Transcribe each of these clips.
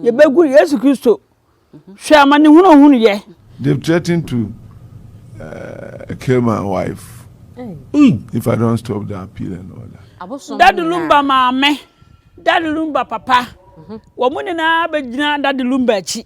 Yɛbɛgu Yesu Kristo. Hwɛ amanehunu a ɔhunuiɛ. They've threatened to uh, kill my wife if I don't stop the appeal and all that. Daddy Lumba maame, Daddy Lumba papa, wɔn nyinaa bɛgyina Daddy Lumba akyi.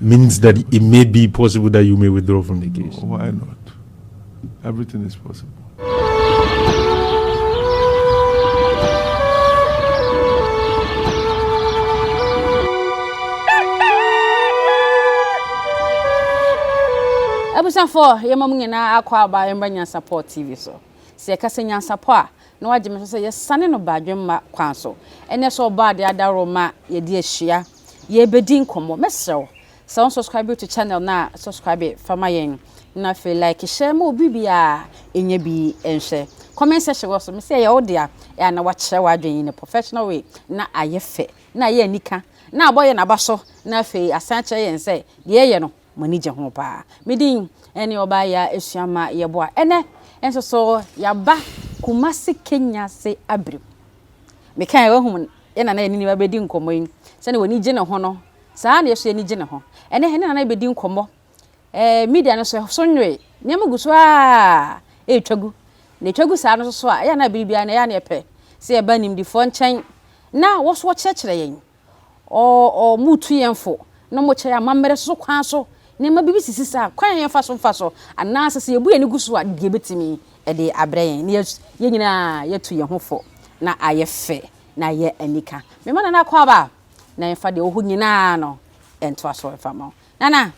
means that it may be possible that you may withdraw from the case. Why not? Everything is possible. abusuafoɔ yɛma mu nyinaa akɔ aba yɛmmra nyansapɔ tv so sɛ yɛka sɛ nyansapɔ a Na wagye me nso sɛ yɛsane no badwemma kwan so. Ɛnneɛ sɛ ɔbɔ adeɛ adaworo ma yɛde ahyia, yɛrebɛdi nkɔmmɔ. Mɛsrɛ wo sɛ wo subscribe to channel no a, subscribe fa ma yɛn. Na afei like hyɛ ma obi biara ɛnya bi nhwɛ. Comment section wɔ so. Mesɛ ɛyɛ wo dea, ɛyɛ a na wakyerɛ w'adwene in a professional way, na ayɛ fɛ, na ayɛ anika, na abɔ yɛn aba so, na afei asan akyerɛ yɛn sɛ deɛ yɛyɛ no mo ani gye ho paa. Me din ne Ɔbaayea Asuamma Yeboah. Ɛnnɛ nso so yɛaba Kumasi Kenya se abirem. Me kae wahu me ne Nana Anini abɛdi nkɔmmɔ yi, sɛdeɛ w'ani gye ne ho no, saa na yɛ nso y'ani gye ne ho. Ɛnnɛ yɛne Nana rebɛdi nkɔmmɔ. Ɛɛ media no so ɛso nwoe, nneɛma gu so ara ɛretwa gu. Na ɛtwa gu saa no nso so a, ɛyɛ a na bere biara no ɛyɛ a na yɛpɛ sɛ yɛba animdefoɔ nkyɛn na wɔn nso wɔkyerɛkyerɛ yɛn ɔ ɔ motu yɛn fo na mokyɛ yɛn amammerɛ so kwan so. Nneɛma bi sisi saa kwan a yɛmfa so mfa so anaasɛ sɛ yɛbu yɛn ani gu so a, deɛ ɛbɛtumi de abrɛ yɛn. Na yɛn nyinaa yɛatu yɛn ho fo na ayɛ fɛ na ayɛ anika. Mema Nana Akwaaba na yɛmfa deɛ ɛwɔ hɔ nyinaa no ntoa so mfa ma wo. Nana,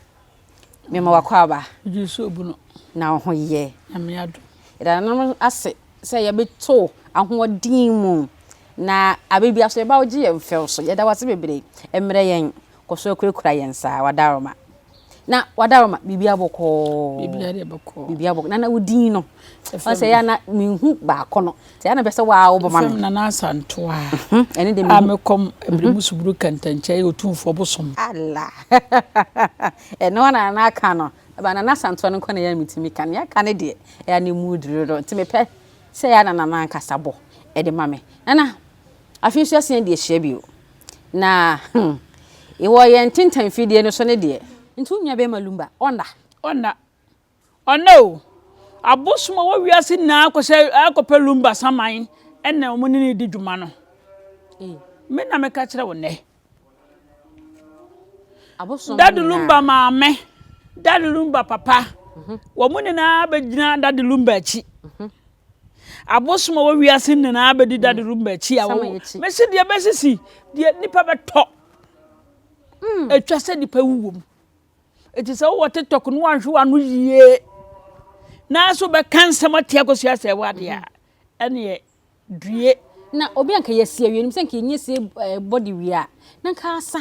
Mema w'akwaaba. Megye wo sɛ obu no. Na wo ho yɛ. Nyame adom. Yɛda nanom ase sɛ yɛbɛto ahoɔden mu na abɛ bia so yɛba wo gye yɛn fɛw so. Yɛda w'ase bebree. Mmerɛ yɛn. Kɔ so akurakura yɛn saa. Wadaroma. Na wadaroma biribi abɔkɔɔ. Biribi adeɛ bɔkɔɔ. Biribi abɔkɔɔ. Na na wo din no. Ɛfɛ. Ɔsɛ yɛ na menhu baako no. Nti ɛyɛ na bɛ sɛ wo ara wobɛma me. Mfam Nana Asantew a. Ɛno deɛ mehu. A me kɔm ɛbere mu suburo kantankyɛ yɛ otumfoɔ bosom. Allah! Ɛno ara na Nana aka no. Ɛba Nana Asantew no nko na ɛyɛ a metumi ka. Nea aka no deɛ, ɛyɛ a na emu duru dodo. Nti mepɛ sɛ ɛyɛ a na Nana ankasa bɔ de ma me. Nana, afei nso yɛasan adi ahyia bio. Na hmm, wɔ yɛn ntentan fidie no so no deɛ. Nti wo nua bɛrima Lumba, ɔnna? Ɔnna. Ɔnnɛ o, abosom a ɔwɔ wiase nyinaa akɔhyɛ akɔpɛ Lumba saman na wɔn ne no di dwuma no. Me na meka kyerɛ wo nnɛ. Dade Lumba maame, Dade Lumba papa, mhm. wɔn nyinaa bɛgyina Dade Lumba akyi. Mhm. abosom a wɔwia se nyinaa bɛdi mm. dade rumba akyi a wɔwɔ mɛsi deɛ bɛsisi deɛ nipa bɛtɔ mm. atwa sɛ nipa wuwom Eti sɛ wowɔ TikTok no wanhwe w'ano yie na so bɛka nsɛm atia kosua sɛ ɛwɔ adeɛ a ɛneɛ due. Na obi anka yɛsi awie no sɛ nka yɛnyɛ sie eh, body wie a na nka asa.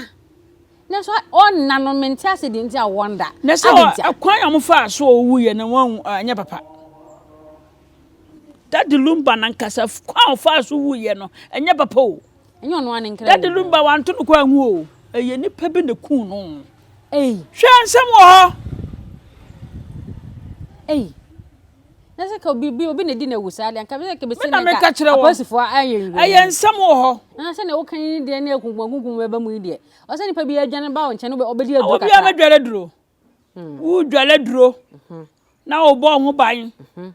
Nanso ɔnna no mente ase deɛ nti a wɔnda. Na sɛ ɛkwan a wɔfaa so ɔwu yɛ no wɔn anyɛ papa. Dadi Lumba na nkasa kwan a ɔfaa so wu yɛ no ɛnyɛ papa o. Daddy Lumba wanto no kwan ho o, ɛyɛ nipa bi na kuu no. Hwɛ nsɛm wɔ hɔ. Ei. Na sɛ ka obi obi na di na wu saa de anka bɛ ka bɛ sɛ na meka kyerɛ wɔ apolisifoɔ ayɛ nwi ɛyɛ nsɛm wɔ hɔ na sɛ na woka yi deɛ na ekunkum kunkum bɛba mu yi deɛ ɔsɛ nipa bi adwane ba wo nkyɛn no ɔbɛdi aduro kakra obi a mɛdware duro hmm. wodware duro hmm. na wobɔ ho ban hmm.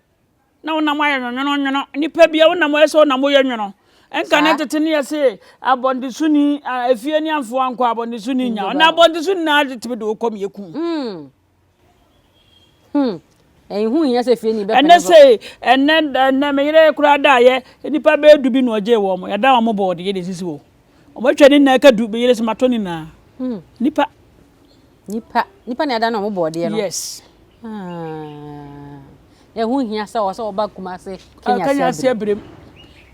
na wonam ayɛ nwonwono nwono nipa bi a wonam ayɛ sɛ wonam woyɛ nwono nka ne tete ne yɛse abɔndeso ni efie ne amfo ankɔ abɔndeso ni nya na abɔndeso ni na de tebe de okɔm yɛ kum hmm hmm ɛnho hia sɛ fie ni bɛpɛ ɛnɛ sɛ ɛnɛ ɛnɛ me yere koraa da yɛ nipa bɛyɛ du bi na ɔgye wɔn yɛda wɔn bɔɔde yɛde sisi wɔ wɔn atwa ne nyinaa ka du me yere sɛ matɔ ne nyinaa hmm. nipa Nipa nipa na ɛda na ɔmo bɔɔdeɛ no. Yes. Ah. Ɛho hia sɛ ɔsɛ ɔba Kumase Kenya Kenya ase abirem.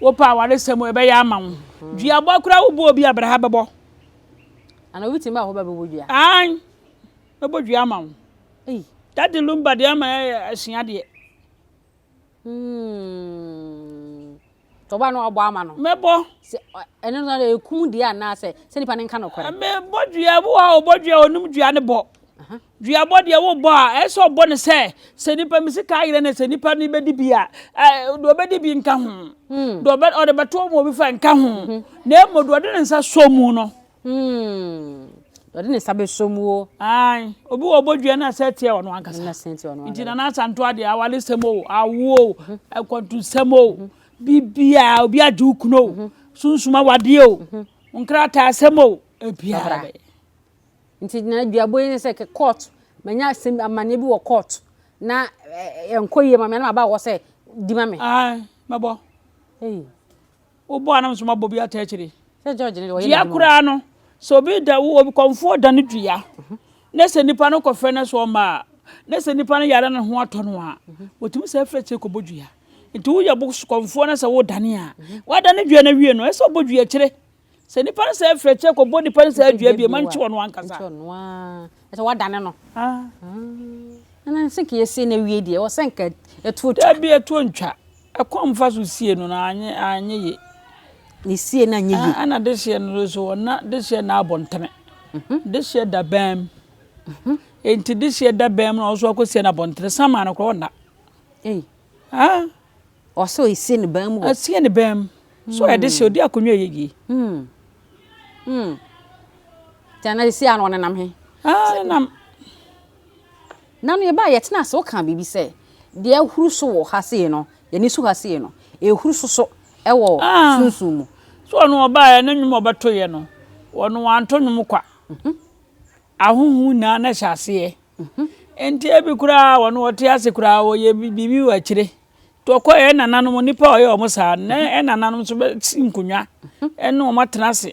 Wopɛ awaresɛm ɛbɛyɛ ama wo. Duabɔ koraa wobɔ obi a bɛrɛha bɛbɔ. Ana obi tumi ba hɔ bɛbɔ dua? An. Bɛbɔ dua ama wo. Ei. Dade lumba deɛ ama ɛsua deɛ. Hmm. Tɔba no ɔbɔ ama no. Mɛbɔ. Sɛ ɛno no na ekum deɛ anaa sɛ sɛ nipa no nka no kɔrɛ. Mɛbɔ dua bi hɔ a ɔbɔ dua onim dua ne bɔ. Dua bɔ deɛ wobɔ a ɛsɛ ɔbɔ ne sɛ sɛ nipa mi sika ayerɛ ne sɛ nipa no bɛdi bi a ɛɛ deɛ ɔbɛdi bi nka ho. Hmm. Deɛ ɔbɛ ɔde bɛto ɔmo obi fa nka ho. Hmm. Na emu deɛ ɔde ne nsa sɔ mu no Humm, ɔde ne nsa bɛsɔ mu o. Ae, obi wɔ bɔdwea na sɛ teɛ ɔno ankasa. Na sɛ teɛ ɔno ankasa. Nti Nana Asanto adeɛ, awaresɛm o, awo o, akwantusɛm o, bibia, obi agye wo kunu o, sunsum awadeɛ o, nkrataa asɛm o, ebiara bɛyɛ. Nti na aduabɔ yi ne sɛ court, manya asɛm amanneɛ bi wɔ court na ɛnkɔ yie ma me na maba hɔ sɛ di ma me. Ae, mɛbɔ. Ei. Wobɔ a na nso mabɔ bi ata akyire. Dua koraa no, sɛ obi da wo obi kɔmfoɔ da no dua na sɛ nipa no kɔfɛ no so ɔma na sɛ nipa no yare no ho atɔ no a wɔtumi sɛ afiri akyire kɔbɔ dua. Nti woyɛ bo kɔmfoɔ no sɛ wodane a wadane dua no awie no ɛsɛ ɔbɔ dua akyire. Sɛ nipa no sɛ afiri akyire kɔbɔ nipa no sɛ adua bie ma nkye ɔno ankasa. Ɛsɛ wadane no. Ah. Ɛna nse nka yɛsie na awie deɛ ɔsɛ nka ɛtuo twa. Dabi ɛtuo ntwa. Ɛkwan mfa so sie no na anye anye ye. Ne sie no anyɛ ye. Ɛna dehyeɛ no nso ɔna dehyeɛ na abɔ ntene. Dehyeɛ da bɛn mu. Enti dehyeɛ da bɛn mu na ɔso akɔ sie no abɔ ntene. Samaa no kora ɔna. Ei. Ah. Ɔsɛ ɔsie ne bɛn mu hɔ. Asie ne bɛn mu. So ɔyɛ dehyeɛ ɔdi akonnwa ɛyɛ yie. Hmm. Hmm. Tɛna sie ano ɔnenam he. Ah, nam. Nna no yɛbae, yɛtsenaa ase, wɔkaa biribi sɛ, Deɛ ahuru so wɔ ha sei no, yɛne su ha sei no, ɛrehuru so so wɔ sunsum mu. So ɔno ɔbaeɛ na nnwom a ɔbɛtoeɛ no, ɔno wanto nnwom kwa. Ahonhom nyinaa na ɛhyɛ aseɛ. Enti ebi koraa ɔno ɔte ase koraa ɔyɛ biribi wɔ akyire. Nti ɔkɔeɛ yɛn nananom nnipa a ɔyɛ wɔn saa no, na yɛn nananom nso bɛsi nkonnwa ne wɔn atena ase.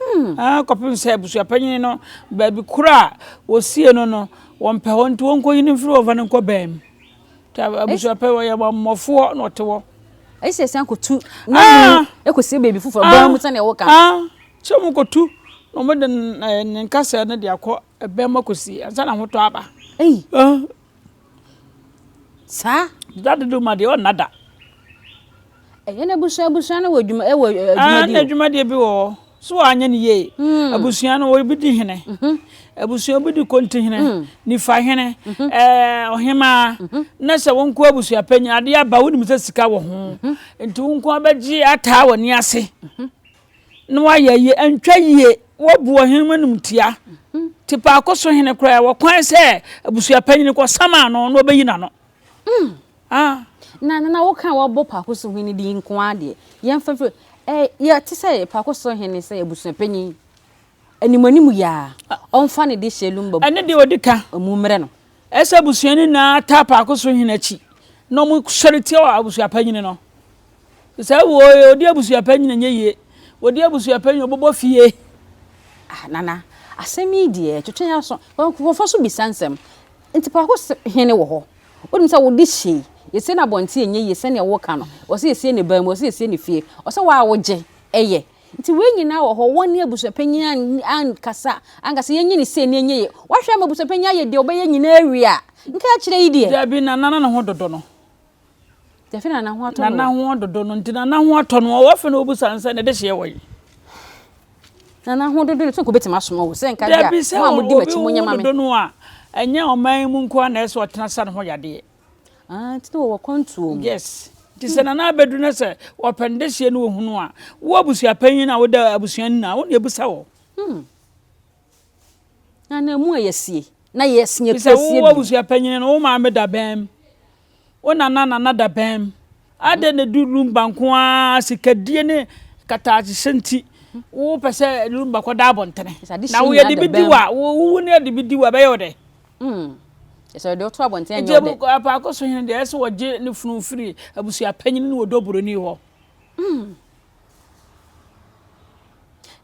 Hmm. Ah, kɔpem sɛ abusuapanyin no baabi koro a wɔsie no no wɔmpɛ hɔ nti wɔnkɔyi no mfiri wɔmfa no nkɔ baa mu nti abusuapɛ wɔyɛ mmɔfoɔ na ɔte hɔ ɛsɛ sɛ san kɔtu ne ah! mu ɛkɔsie baabi foforɔ ah! baa mu sɛdeɛ woka ah! sɛ mu kɔtu na wɔde ne nkasɛɛ no de akɔ baa mu akɔsie ansa na hotɔ aba Saa. Da dodo ma deɛ ɔnna da. Ɛyɛ no abusua abusua no wɔ adwuma ɛwɔ adwuma di. Adwuma deɛ bi wɔ hɔ so anyɛ no yie. Hmm. Abusua no obi di hene. Mhm. Abusua obi di konti hene, hmm. nifa hene, mhm. ɛɛ ɔhemaa. Mhm. Na sɛ wɔn nko abusua panyin adeɛ aba wɔn nim sɛ sika wɔ ho. Nti wɔn nko abɛgye ataa wɔn ni ase. Na wayɛ yie antwa yie wabu ɔhene mu animtia te paako so hene koraa wɔ kwan sɛ abusua panyin kɔ sama ano na ɔbɛyi n'ano. Mm. Ah. na na na woka wɔbɔ paako so hene din nko ara deɛ yɛmfa firi eh, yɛte sɛ paako so hene sɛ abusua panyin animanim yɛ a ɔmfa ne de hyɛ lumba ɛne deɛ ɔdi ka ɔmu mmerɛ no Ɛsɛ abusua no nyinaa taa paako so hene akyi na wɔsɔre tia wɔ abusua panyin no. Sɛ wo odi abusua panyin nyɛ yie, odi abusua panyin ɔbɔbɔ fie. Ah nana, asɛm yi deɛ ɛtwetwe aso. Nkurɔfoɔ so bisa nsɛm. Nti paako so hene wɔ hɔ. Wonim sɛ wode hyɛ yi, yɛsie no abɔnten ɛnyɛ yie sɛdeɛ woka no. Wɔsɛ yɛsie no ban mu, wɔsɛ yɛsie no fie. Ɔsɛ wo a wogye, ɛyɛ. Nti wei nyinaa wɔ hɔ, wɔne abusuapanyin ankasa ankasa, yɛnyɛ no sei na yɛnyɛ yei. Woahwɛ ama abusuapanyin ayɛ deɛ ɔbɛyɛ nyinaa awie a, nka akyerɛ yi deɛ. Dabi, Nana na ne ho dodo no. Dabi, Nana ho atɔ no. Nana ho dodo no, nti Nana ho atɔ no. Ɔwɔ afei na ɔbusa no sɛ, ne dehyeɛ wɔ he? Nana ho dodo no, so nka ɔbɛtumi asoma wo? Sɛ nka deɛ a, mo a modi m'akyi monyɛ ma me. Dabi, sɛ obi ho dodo no a, ɛnyɛ ɔman yi mu nko ara na ɛsɛ sɛ ɔtena sa ne ho yadeɛ. Ah nti na wɔwɔ kwantuo mu. Yes nti sɛ nana abɛduru na sɛ wɔpɛn dehyeɛ no wɔhunu a wo abusua panyin a woda abusua no nyinaa wo na ɛbusa wɔ. Hmm. Na na ɛmu ɛyɛ sie na yɛ sie pie sie bi. Bisa wo abusua panyin no wo maame da bɛn mu wo nana nana da bɛn mu adɛn na du lumba nko ara sikadie ne kataakyehyɛ nti wo pɛ sɛ lumba kɔda abɔntene na woyɛ de bi di wa wo wo ne de bi di wa bɛyɛ wo dɛ. Mm. Ɛsɛ ɔde wo to abɔnten ɛnyɛ ɔdɛ. Enti apaako so hene deɛ ɛsɛ ɔgye ne funu firi abusua panyin ne ɔdɔ buroni hɔ. Mm.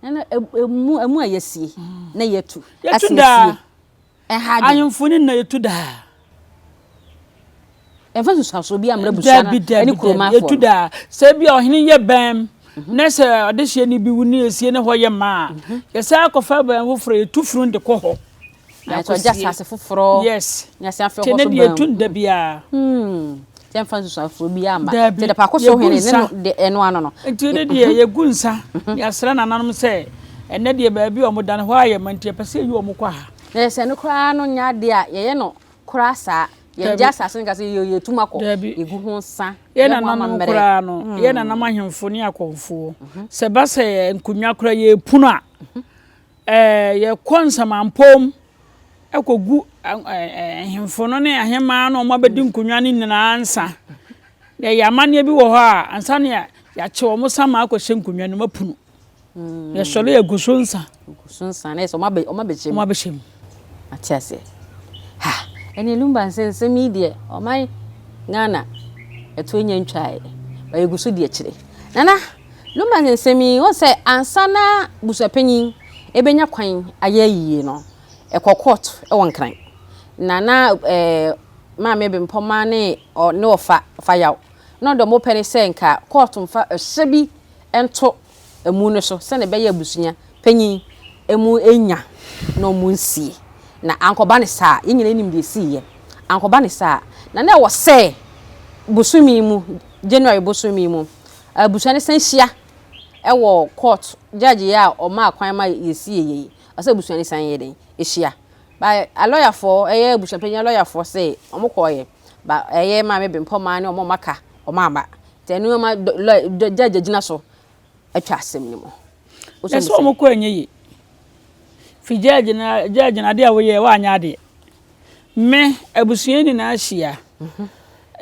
Ɛna ɛmu ɛmu a yɛsie na yɛtu. Yɛtu daa. Ɛha adwene. Ahemfo ne nna yɛtu daa. Ɛmfa nsusuansoɔ biara mmrɛ abusua no ne kurom afoɔ no. Ɛtu da a, sɛ ebia ɔhene yɛ bɛn na sɛ ɔdehyeɛni bi wu ne ɛsie ne hɔ yɛ ma a, yɛsan kɔfa bɛn foforɔ, yɛtu funu de kɔ hɔ. Nanso ɔgya asase foforɔ. Yes. Ne asan afei ɔkɔ so bɛn. Te ne deɛ ɛtu nda biara. Sɛ mfa nsusuansoɔ biara ma. Daabi. Te dapako so hene ne no de ɛno ano no. Nti ne deɛ yɛgu nsa, yɛasra nananom sɛ ɛnɛ deɛ baabi a wɔda no hɔ ayɛ ma nti yɛpɛ sɛ yɛyi wɔn kɔ ha. Na sɛ ɛno koraa no nyɛ adeɛ a, yɛyɛ no kora saa yɛn gye asase no ka sɛ yɛ yɛtum akɔ yɛgu ho sa yɛ nananom koraa no hmm. yɛ nanam ahemfo ne akɔmfoɔ mhm. sɛ ba sɛ nkonnwa kora yɛpunu a mhm. yɛkɔ nsamampom ɛkɔgu ahemfo no ne ahemaa no ɔma bɛdi mhm. nkonnwa no nyinaa nsa na ɛyɛ amanneɛ bi wɔ hɔ a ansa ne yɛakye wɔ mo sa ma akɔhyɛ nkonnwa no mapunu Na sɔre yɛ gu so nsa. Gu so nsa na yɛ sɛ ɔmo abɛ ɔmo abɛhyɛ mu. Ɔmo abɛhyɛ mu. Ate aseɛ. Ha ɛne lumba nsɛ nsɛm yi deɛ ɔman Ghana ɛtoɔ nya ntwaeɛ ba yɛgu so di akyire. Nana lumba nsɛ nsɛm yi wɔn sɛ ansa na busuapanyin ɛbɛnya kwan ayɛ ayie no ɛkɔ court ɛwɔ nkran na na ɛɛ eh, maame bempɔma ne ɔ ne ɔfa ɔfa yaw na ɔdɔ mo pɛ ne sɛ nka court mfa ɛhyɛ bi ɛnto amu no so sɛnea ɛbɛyɛ abusua panyin amu nya na ɔmo nsie. Na ankɔba ne saa, yɛn nyinaa nim deɛ esiiɛ, ankɔba ne saa na na ɛwɔ sɛ bosome yi mu, January bosome yi mu, abusua no san hyia ɛwɔ court, judge yi a ɔmaa kwan ma yɛsie yɛ yi, ɛwɔ sɛ abusua no san yɛ dɛn, ɛhyia. Ba alɔyafoɔ, ɛyɛ abusua panyin alɔyafoɔ se ɔmo kɔɔyɛ, ba ɛyɛ Maame Bempɔmaa ne ɔmo a ɔmo aka, wɔn aba nti ɛno ma lɔya dɔ gyagya gyina so ɛtwa asɛm no mu. Ɛsɛ sɛ wɔn kɔ ɛnyɛ yie fi gyagya na gyagya na adeɛ a wɔyɛ wɔanyɛ adeɛ me abusua nyinaa hyia mhm.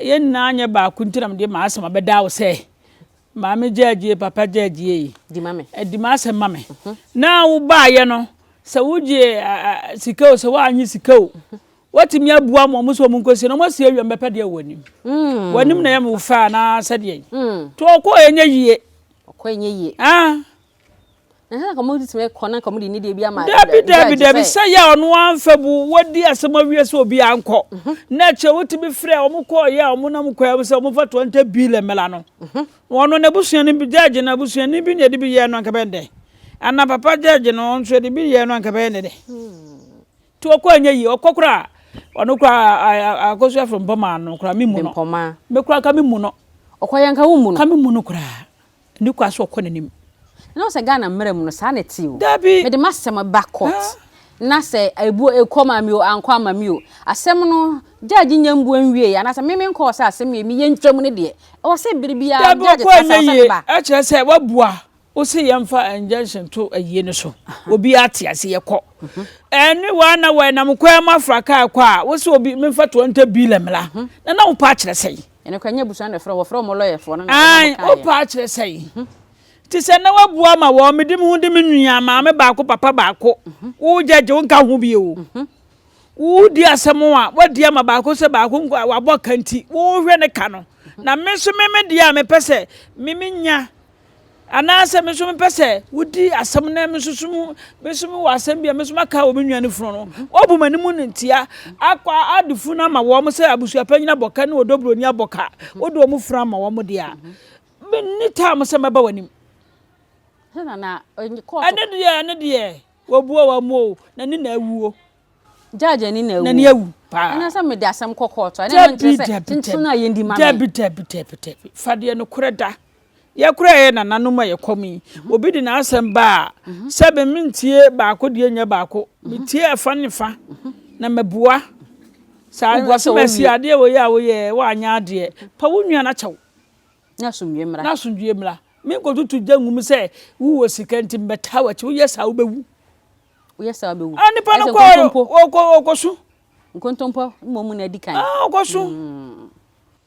yɛn nyinaa nyɛ baako nti na mede maa asɛm abɛda wo sɛ maame gyagye papa gyagye yi di ma me ɛdi eh, ma asɛm ma me mhm. na wo baayɛ no sɛ wogye sika o sɛ woanye sika o Watumi abua mo ɔmo sɛ ɔmo nkosie na ɔmo asi awiam bɛpɛ deɛ wɔ anim. Mm. W'anim na ɛyɛ me wo fɛ anaa sɛdeɛ yi. Mm. To ɔkɔ ɛnyɛ yie. Ɔkɔ ɛnyɛ yie. Ah. Ɛhɛn na kɔmo tumi kɔ na kɔmo de ne deɛ bi ama. Dabi dabi dabi sɛ yɛ ɔno anfɛ bu wadi asɛm awie sɛ obi ankɔ. Mhm. Na kyɛ wotumi frɛ ɔmo kɔ yɛ ɔmo nam kɔ ɛmo sɛ ɔmo fa twenty billion mela no. Mhm. Ɔno na ebusua no bi judge na ebusua ni bi na ɛde bi yɛ no anka bɛn dɛ. Ana papa judge no ɔnso ɛde bi yɛ no anka bɛyɛ ne dɛ. Hmm. To ɔkɔ anyɛ yie ɔkɔ koraa ɔno koraa akɔsu afiri mpɔmaa no koraa me mu no mpɔmaa me koraa ka me mu no ɔkɔ yɛ nka wo mu no ka me mu no koraa ne kɔ aso ɔkɔ n'anim na ɔsɛ Ghana mmerɛ mu no saa na ɛte o dabi mede m'asɛm ba court na sɛ ebu ekɔ ma mi o ankɔ ama mi o asɛm no judge nyɛ mbuo nwie anaasɛ meme nkɔ ɔsɛ asɛm yɛ mi yɛ ntwam ne deɛ ɛwɔ sɛ bere biara judge kasa ɔsɛ ne ba ɛkyerɛ sɛ wabua Wo se yɛn fa injunction to ayie no so. Obi ate ase yɛ kɔ. Ɛne wa na wa nam kwan mu afra kaa kɔ a wo se obi menfa twenty billion mla. Na na wo pa akyerɛ sɛn? Ɛne kɔ nyɛ busua na ɛfrɛ wɔfrɛ wɔn lɔyɛ foɔ no na wɔn kaayɛ. Wo pa akyerɛ sɛn? Ti sɛ na wa bua ma wɔn me di me ho di me nua maame baako papa baako. Wo judge wo nka ho bio. Wo di asɛm a wa di ama baako sɛ baako nko wa bɔ kanti. Wo hwɛ ne ka no. Na me so me me di a me pɛ sɛ me me nya. Anaasɛ me nso mepɛ sɛ wodi asɛm na me nso so mu me nso mewɔ asɛm bi a me nso maka wɔ me nua no funu no wɔbu m'anim no ntia akɔ ade funu ama wɔn sɛ abusuapanyin abɔka ne ɔdɔburoni abɔka wode wɔn funu ama wɔn deɛ a menni taa mo sɛ mɛba w'anim ɛne deɛ ɛne deɛ wɔbua wɔn mu o na ne na awuo Judge ani na awu. N'ani awu paa. Ɛna sɛ mede asɛm kɔ court a. Ɛna nkyerɛ sɛ kyenkyen a yɛndi ma me. Dabi dabi dabi dabi. Fa deɛ nokorɛ da. Yɛ koraa yɛ nananom a yɛ kɔm yi. Obi de n'asɛm ba a, sɛ me mentie baako deɛ nyɛ baako. Me tie ɛfa ne fa na ma bua. Sɛ asomasi adeɛ wei a wo yɛɛ wo anyɛ adeɛ, pa wo nua na kyɛw. Na asomdwie mmra. Na asomdwie mmra. Me nkɔ tutu gya ngu mu sɛ wo wɔ sika nti me bɛ taa wakyi. Wo yɛ saa wo bɛ wu. woyɛ saa wobɛwu ah, nipa no kɔ ɔkɔsu nkontompɔ mmom mu na adi kan ah, ɔkɔsu mm.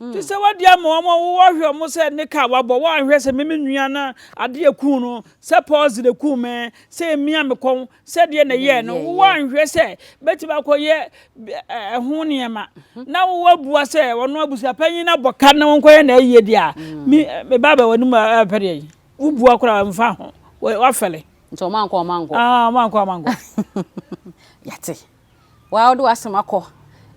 mm. te sɛ wadi ama wɔn a wɔhwɛ wɔn sɛ ne ka wabɔ wɔanhwɛ sɛ meme nua no adeɛ kuu no sɛ pɔs de kuu me sɛ mmea me kɔn sɛ deɛ na ɛyɛɛ no wɔanhwɛ sɛ bɛtumi akɔyɛ ɛho nneɛma mhm. na wɔabua sɛ wɔn abusuapanyin abɔ ka na wɔnkɔyɛ na ɛyɛ deɛ a mm. me ba bɛ wɔn mu apɛdeɛ yi Wo bua koraa nfa ho. Wa fɛle. Nti ɔmo ankɔ ɔmo ankɔ. Aa ɔmo ankɔ ɔmo ankɔ. Yate. Waa ɔde w'asem akɔ.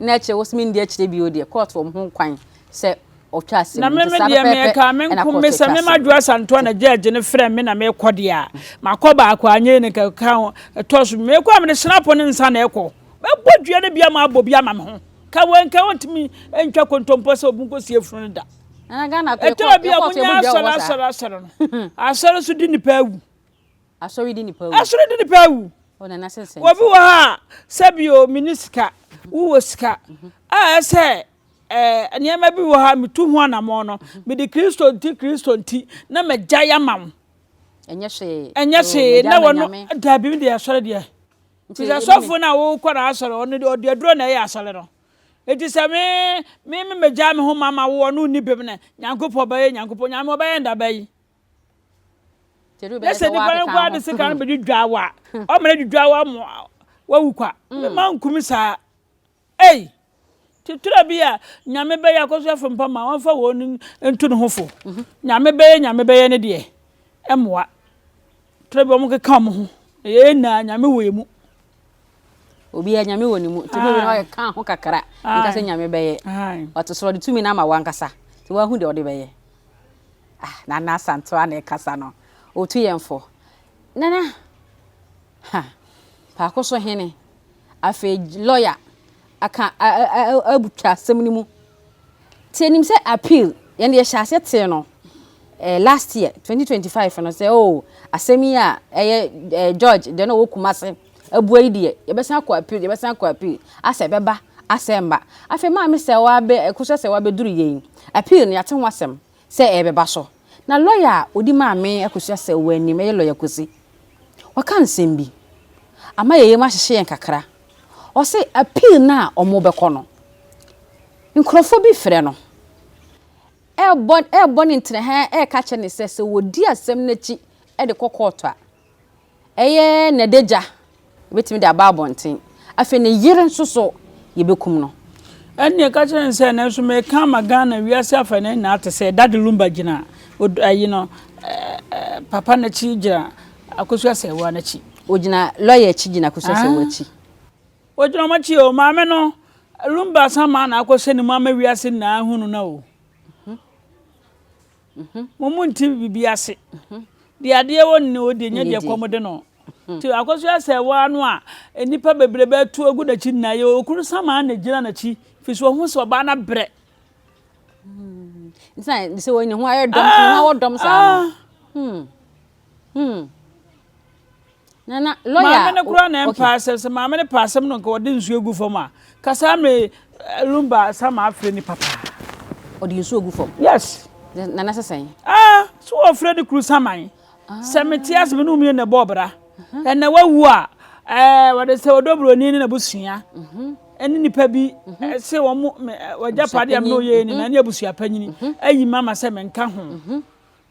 Nna akyire wo se me ndi akyire bio deɛ court wɔ mo ho kwan sɛ ɔtwa asem. Na me me deɛ me ɛkaa me nko me sɛ me ma Joyce Antoa na judge no frɛ me na me kɔ deɛ a ma kɔ baako anyɛ yi ne ka ka ho ɛtɔ so me kɔ a me de snap ne nsa na ɛkɔ. Mɛ bɔ dua no bi ama abɔ bi ama me ho. Ka wei nka ɔntumi ntwa kontompo sɛ obi nko sie funu no da. ɛna ghana kɔ ɛtɔ bi a mo nya asɔre asɔre asɔre no asɔre nso di nipa awu asɔre di nipa awu asɔre di nipa awu ɔnana sɛ sɛ obi wɔ ha sɛbi o mini sika wowɔ sika a ɛsɛ ɛɛ nneɛma bi wɔ ha metu ho anamɔ no mede kristo nti kristo nti na magya ya ma wo ɛnyɛ hwee ɛnyɛ hwee na wɔn dabi mi de asɔre deɛ nti sɛ sɔfo na wokɔ na asɔre ɔno ɔde aduro na ɛyɛ asɔre no Enti sɛ me, me, me megyaa me ho ma ma wo ɔno nni bem no, Nyankopɔn bɛyɛ Nyankopɔn, Nyame ɔbɛyɛ nda bɛyi. Ne sɛ nipa no koraa de sekan no bɛdwidwaa wo a, ɔma no adwidwaa wo ama wawu kwa. Mema nkumi saa. Ei! Titura bi a Nyame bɛyɛ akɔsoɛfo mpa ma wɔmfa wɔn ntu ne ho fo. Nyame bɛyɛ Nyame bɛyɛ ne deɛ, ɛmmoa. Titura bi wɔn keka wɔn ho, na yɛn nyinaa Nyame wɔ yɛn mu. obiara nyame wɔ ne mu nti bɛbi na ɔyɛ ka ho kakra nka sɛ nyame bɛyɛ ɔte soro ɔde tumi no ama wankasa nti wahu deɛ ɔde bɛyɛ ah nana asantewa na ɛkasa no ɔtu yɛn fo nana ha paako so hene afei lɔya aka a abu twa asɛm no mu nti ɛnim sɛ appeal yɛn yɛhyɛ aseɛ tee no eh, last year 2025 no sɛ oh asɛm yi a ɛyɛ eh, George deɛ na ɔwɔ kuma ase abua yi deɛ yɛbɛsan akɔ appeal yɛbɛsan akɔ appeal asɛ ɛbɛba asɛ mba afei maame sɛ wabɛ ɛkosɛ sɛ wabɛduru yɛn appeal no yɛate ho asɛm sɛ ɛrebɛba so. Na lɔya a ɔdi maa me akosua sɛ wɔ anim, ɛyɛ lɔya Kosi. Waka nsɛm bi. Ama yɛn yam ahyehye yɛn kakra. Ɔse appeal no a wɔrebɛkɔ no, nkurɔfoɔ bi frɛ no, ɛrebɔ, ɛrebɔ ne ntena ha, ɛreka kyerɛ no sɛ, sɛ wɔdi asɛm no akyi de kɔ kɔɔto a, Ɛyɛ n'adagya, yɛbɛtumi de aba abɔnten. Afei ne yere nso so, yɛbɛkum no. Ɛnneɛ ka kyerɛ no sɛ, Nanso meka ama Ghana wiase afanan nyinaa te sɛ, Dade Lumba gyina od ayi no ɛɛ papa no akyi gyina Akosua Asɛɛwaa no akyi. Ɔgyina lɔya akyi gyina Akosua Asɛɛwaa akyi. Ɔgyina wɔn akyi o, maame no Lumba Asamaa na akɔhyɛ ne mu ama wiase nyinaa ahunu no o. Mhm. Mo mu nti biribi ase. Mhm. Deɛ adeɛ wɔ ne ɔdeɛ nyɛ deɛ kɔm de no. Mhm. Nti akɔso asɛ waa no a nnipa bebrebe atu agu n'akyi nyinaa yɛ okunu samaa na gyina n'akyi fi so ɔho sɛ ɔbaa no abrɛ. Hmm. Nti na sɛ wɔn ne ho ayɛ dɔm, ne ho awɔ dɔm saa no. Ah, ah. Hmm. Hmm. Na na lawyer. Maame no kura na mpa asɛm sɛ maame no pa asɛm no nka ɔde nsuo gu fam a kasa me lumba sama afrɛ ni papa. Ɔde nsuo gu fam. Yes. Na na sɛsɛn. Ah, so ɔfrɛ ni kuru saman. Ah. Sɛ me te asɛm no mmienu na ɛbɔ ɔbra. Ɛna wawu a ɛɛ wɔde sɛ ɔdɔ buroni ne na busua. Mhm. Ɛne nipa bi mhm. sɛ wɔn wɔgya padeɛ mu na ɔyɛ ni na ne abusua panyini ayi mama sɛ menka ho.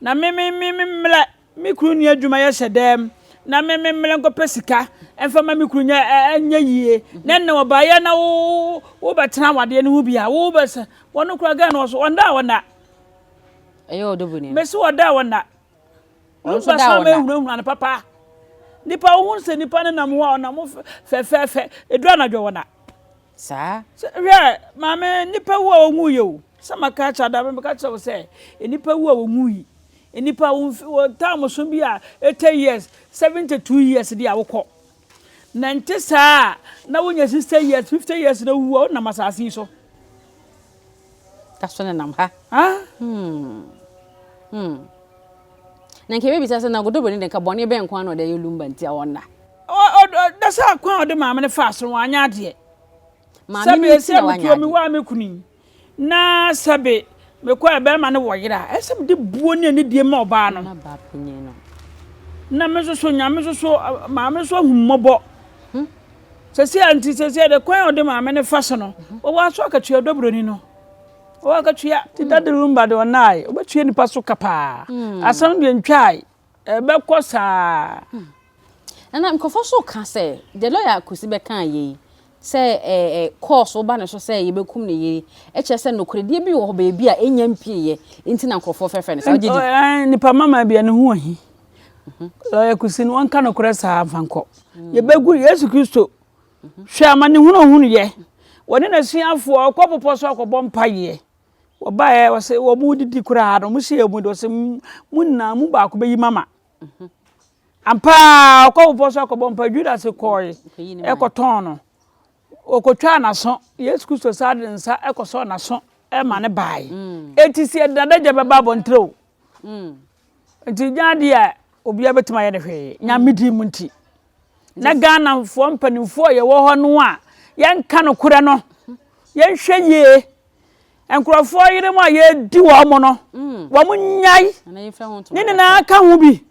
Na me me me me mmerɛ me kunu nni adwuma yɛ hyɛ dɛm na me me mmerɛ nkɔpɛ sika mfa ma me kunu nyɛ ɛnyɛ yie na ɛnna wɔbaeɛ na wo wobɛtena awadeɛ no ho bi a wobɛsɛ wɔn kura gɛn no ɔso ɔnda a ɔnda ɛyɛ ɔdɔ bu ni mɛsi ɔda a ɔnda ɔnso da ɔnda mɛhunahuna no papa nipa wohun sɛ nipa ne nam ho a ɔnam fɛfɛɛfɛ ɛduru anadwo ɔnda saa. Sɛ, hwɛ, maame, nnipa wu a wɔnwuiɛ o, sɛ maka akyerɛ ada, mebɛka kyerɛ wo sɛ, nnipa wu a wɔnwui, nnipa, wo mfe, wɔ time so bi a, eighty years, seventy two years deɛ a, wokɔ. Na ɛnte saa a, na wonya sixty years, fifty years na wowu a, wonam asase yi so. Daso nenam ha ah hmm hmm Na nka yɛbɛbisa sɛ na Godobro no de nka bɔne bɛn nko ara na ɔde ayɛ Lumba nti a ɔnna? Daso akwan a ɔde maame no faa so no wanyɛ adeɛ. Maame no nti na wanyɛ adeɛ. Sɛbe sɛ metuo me waa me kunu yi na sɛbe mekɔ a bɛrima no wɔ yere a, ɛsɛ sɛ mede buo ne anidie ma ɔbaa no. Na baa panyin no. Na me nso so Nyame nso so maame nso ahu mmɔbɔ. Sɛsi a nti sɛsi de kwan a ɔde maame no fa so no, wɔwɔ aso akatua dɔ buroni no. Wɔwɔ akatua ti dade rumba de ɔnae, ɔbɛtua nipa so ka paa. Hmm. Asɛm deɛ ntwae, ɛbɛkɔ saa. Hmm. Ɛna nkurɔfoɔ so ka sɛ, deɛ lɔya akosi bɛka yei, sɛ ɛɛ kɔɔso woba ne so sɛ yɛbɛkum ne yere ɛkyɛ sɛ nokorɛdeɛ bi wɔ hɔ baabi a ɛnya mpieɛ nti na nkurɔfoɔ fɛfɛ no sɛ wogye di. Nipa mama bi a ne ho ahi. Ɔyɛ kusi no ɔnka nokorɛ saa mfa nkɔ. Yɛbɛgu Yesu Kristo hwɛ amanehunu a ɔhunuiɛ. Ɔne n'asuafoɔ ɔkɔ bepɔ so akɔbɔ mpaeɛ. Wɔbaeɛ ɔse wɔredidi koraa no wɔsi wɔn mu de ɔse mo nyinaa mu baako bɛyi mama. Ampa ara ɔkɔ bepɔ so akɔbɔ mpaeɛ Judas kɔɔe kɔtɔn no. Ɔkɔtwaa n'aso Yesu Kristo san de ne nsa kɔsɔɔ n'aso ma no baeɛ. Enti sɛ yɛde n'adagya bɛba abɔntene o. Nti nyɛ adeɛ a obiara bɛtumi ayɛ no hwee nyame din mu nti na ghanafoɔ mpanimfoɔ a yɛwɔ hɔ no a yɛnka nokorɛ no yɛnhwɛ yie nkurɔfoɔ yere mu a yɛdi wɔn mo no mm. wɔn nyae ne nyinaa ka ho bi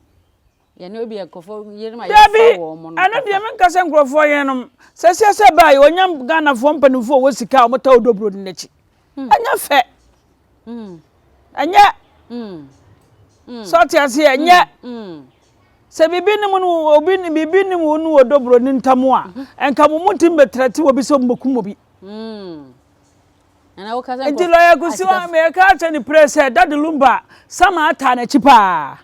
dabi ɛno deɛ menka sɛ nkurɔfoɔ yerenom sɛ siɛ sɛ baa yɛ ɔnyam ghanafoɔ mpanimfoɔ wɔ sika a wɔtaw dobro no n'akyi hmm. ɛnyɛ fɛ hmm. ɛnyɛ hmm. sɛ ɔte ase ɛnyɛ sɛ biribi ne mu no obi biribi ne mu no wɔ dobro ne ntam a mhm. nka mo mu tim bɛtrɛte wɔ bi sɛ mbokum obi nti lɔya kusiwa mɛka akyɛ ne prɛ sɛ dade lumba sama ataa n'akyi paa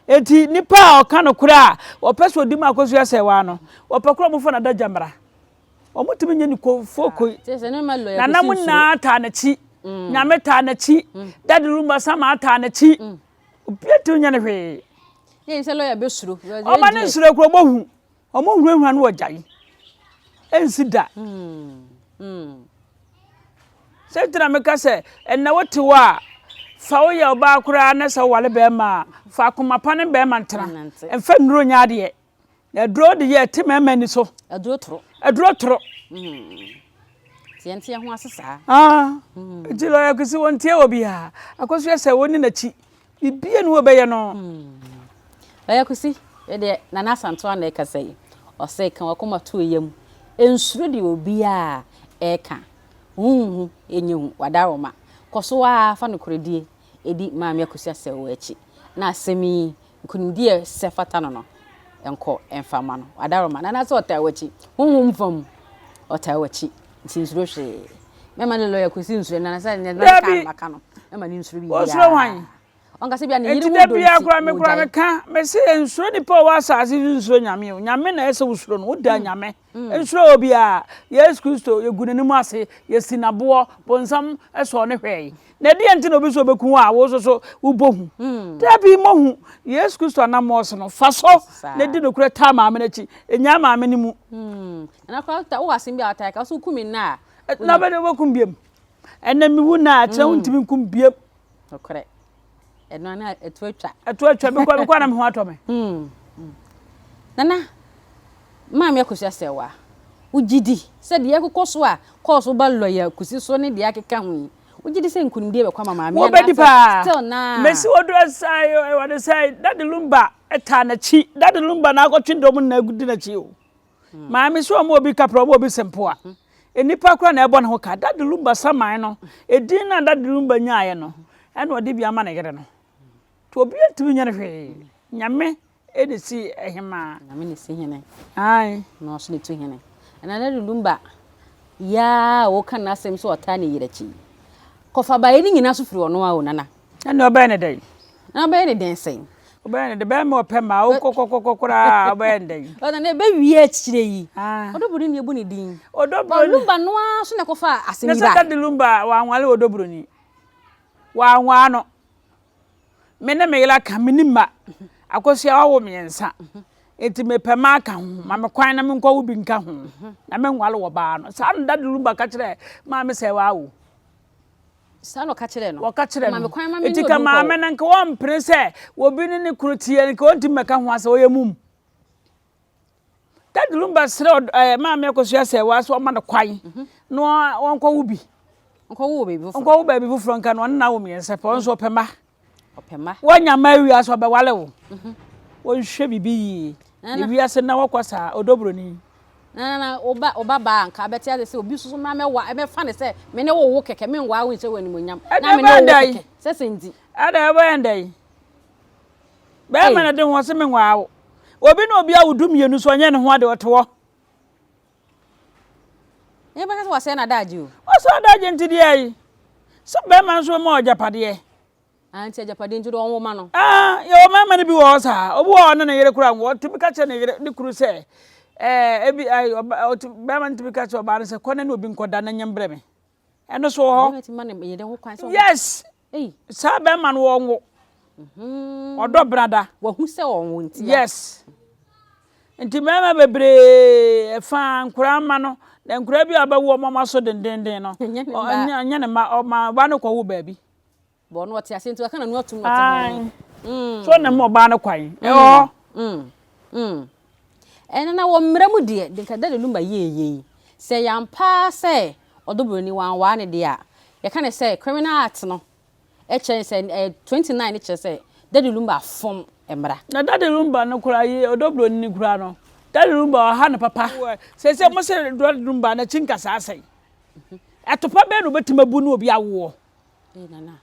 eti nipa a ɔka no korɛ a wɔpɛ sɛ ɔdi mu akɔsua sɛ waa no wɔpɛ korɛ ɔmofo no adagya mmara wɔtumi nya nikofookoi. Nana mu nyinaa taa n'akyi. Mm. Nyame taa n'akyi. Mm. Dadi rumba sama taa n'akyi. Mm. Obiara tumi nya ne hwee. Yɛn sɛ lɔya bɛ suro. Ɔma ne nsoro kuro bɔ hu. Ɔmo hunahuna no wɔ gya yi. Ɛnsi da. Sɛ gyina mi ka sɛ ɛnna wote hɔ a fa woyɛ ɔbaa koraa na sɛ wowale bɛrima a fa akoma pa ne bɛrima ntena. Nfa nnuro nyɛ adeɛ. Aduro de yɛ te mɛɛma ni so. Aduro toro. Aduro toro. Tiɛntiɛ ho ase saa. Ah, nti lɔya akwasi wɔn tiɛ wɔ bi ha. Akɔso yɛ sɛ wɔn ne n'akyi. Bibie ne wɔbɛyɛ no. Lɔya akwasi, ɛdeɛ nana asanto ana ɛkasa yi. Ɔsɛ ka wakoma to ɛyɛ mu. Nsuro deɛ obiara ɛka. Hunhu ɛnyɛ hu, wada roma. Kɔso aa fa nokorɛdie edi Maame Akosua Asau akyi na asɛm yi, nkonimdi a ɛsɛ fata no no, nkɔ mfa mma no. W'adaworoma no anaasɛ ɔtaa w'akyi, honhom fam ɔtaa w'akyi, nti nsuro hwee. Mɛma ne lɔya Kwesi nsuro no anaasɛ nea ɛbɛba bɛka no maka no, mɛma no nsuro biribiara. Ɔsuro hwan? Ɔnka sɛ bia ne yere ho dɔ nti, ɔgyae. Nti da biara koraa me koraa meka, mese nsuro nipa a ɔwɔ asase so, nsuro Nyame o. Nyame na ɛsɛ wosuro no, woda Nyame. Nhyira wɔ biara. Yesu Kristo, yɛgu n'anim ase, yɛsi no aboɔ, bonsam sɔɔ no hwɛɛe. Na ɛdeɛn nti na obi sɛ ɔbɛku wo a wo nso so wobɔ hu? Dabi, mmɔ hu. Yesu Kristo anammɔn so no, fa so na di nokorɛ taa maame no akyi. Nnyaa maame no mu. Ɛna koraa wota, wowɔ asɛm bi a wotaa ka, wose woku me nnɛ a. Na wobɛdɛn wobɛku me biom? Ɛnɛ mewu nnɛ a, kyerɛ wo ntumi nku me biom. Nokorɛ. ɛno na ɛto atwa ɛto atwa mekɔ mekɔ anam ho atɔ me hmm, hmm. nana maame akosua sɛ wa wogye di sɛ deɛ ɛkokɔ so a kɔɔ so ba lɔya kusi so ne deɛ akeka ho yi wogye di sɛ nkonimdie bɛkɔ ama maame wobɛdi paa still na mesi wɔdura saa wɔde sɛ dade lumba ɛtaa n'akyi dade lumba na akɔtwe dɔm na agudi n'akyi o Maame sɛ ɔma obi kapra, ɔma obi sempoa. Nnipa koraa na ɛbɔ ne ho ka. Dade Lumba saman no, edin no a Dade Lumba nyaeɛ no, ɛna ɔde bi ama ne yere no. Nti obiara ntumi nyɛ no hwee. Nyame na ɛsi hemaa. Nyame na ɛsi hene. Ae. Na ɔso na ɛtu hene. Ɛna Dade Lumba yaa a wɔka n'asɛm sɛ ɔtaa ne yere akyi. Kɔfa baeɛ no nyinaa so firi ɔno a o nana. Ɛnna ɔbɛyɛ no dɛn? Na ɔbɛyɛ no dɛn sɛn? Ɔbɛyɛ no dɛn? Bɛrima ɔpɛ ma wo kɔkɔkɔkɔ koraa a, ɔbɛyɛ no dɛn? Ɔna na ɛbɛwie akyire yi. Ah. Ɔdɔbroni na yɛbu ne din. Ɔdɔbroni. Lumba no ara so na ɛkɔfa asɛm yi baeɛ. Na sɛ Dade Lumba wanwale ɔdɔbroni. Wanwaa no. Me ne me yere aka, me ne mma. Akosua wawo mmiɛnsa. Enti mepɛ ma aka ho. Ma me kwan na menkɔwo bi nka ho. Na menwale ɔbaa no. Saa na Dade Lumba ka kyerɛɛ Maame Sɛɛwa awo. Saa na ɔka kyerɛɛ no. Wɔka kyerɛɛ no. Enti ka maame no nka ɔmpene sɛ obi ne ne kunu teɛ no, nka ɔntumi mmɛka ho asɛ, ɔyɛ mum. Dadi Lumba srɛ ɛɛ maame akosua sɛ wɔaso ɔma no kwan mhm. na ɔnkɔwo bi. Ɔnkɔwo baabi foforɔ. Ɔnkɔwo baabi foforɔ nka no ɔne n'awo mmiɛnsa pɛ, ɔno nso ɔpɛ ma. ɔpɛma. Wanya ma awie asa ɔbɛwale wo. Mhm. Wonhwɛ bibi yie. Ne wiase na wɔkɔ saa odobroni. Na na oba oba baa nka abɛte ase sɛ obi soso ma mɛwa ɛbɛfa ne sɛ me ne wo wo kɛkɛ me nwa wo nhyɛ wo animonyam na me ne wo kɛkɛ sɛ sɛ nti. Ɛna ɛbɔ yɛn dɛ yi. Bɛrima na de ho ɔse me nwa wo. Obi na obi awo du mmienu so ɔnyɛ ne ho ade ɔte hɔ. Nyɛ bɛka sɛ wasɛe n'adagye o. Wasɛe adagye nti deɛ ayi. Sɛ bɛrima nso ma ɔgyapadeɛ. Ah nti agyapadeɛ nti deɛ ɔnwo ma no. Ah yɛwɔ mmarima no bi wɔ hɔ saa. Obi wɔ hɔ a ɔne ne yere koraa nwo. Ɔtumi ka kyerɛ ne yere ne kunu sɛ ɛɛ ebi ayi ɔba ɔtumi bɛrima no tumi ka kyerɛ ɔbaa no sɛ kɔ na ne obi nkɔda na nya brɛ me. ɛno so wɔ hɔ yes saa bɛrima no wɔnwo mhm. ɔdɔ brada wahu sɛ ɔnwo ntia yes nti mmarima bebree ɛfa nkoraa ma no na nkoraa bi a bɛwo ɔmama so dendenden no ɔnyɛ ne ma ɔma ba no kɔwo baabi bɔ no ɔte aseɛ nti waka n'ano atum ɔte ho mm. so na mu ɔbaa no kwan mm. ɛwɔ mm. ɛno na wɔ mmerɛ mu deɛ denka dɛ no ma yieyei sɛ yɛampaa sɛ ɔdɔ buroni wanwaa ne deɛ a yɛka ne sɛ criminal act no ɛkyerɛ sɛ ɛɛ eh, twenty nine kyerɛ sɛ dade lumba fam mmara. na dade lumba no kura yi ɔdɔ buroni ne kura no dade lumba ɔha ne papa sɛ sɛ mo sɛ dade lumba na kyi nkasa asɛn ɛtopa bɛn na obetuma bu ne obi awoɔ. Ee nana.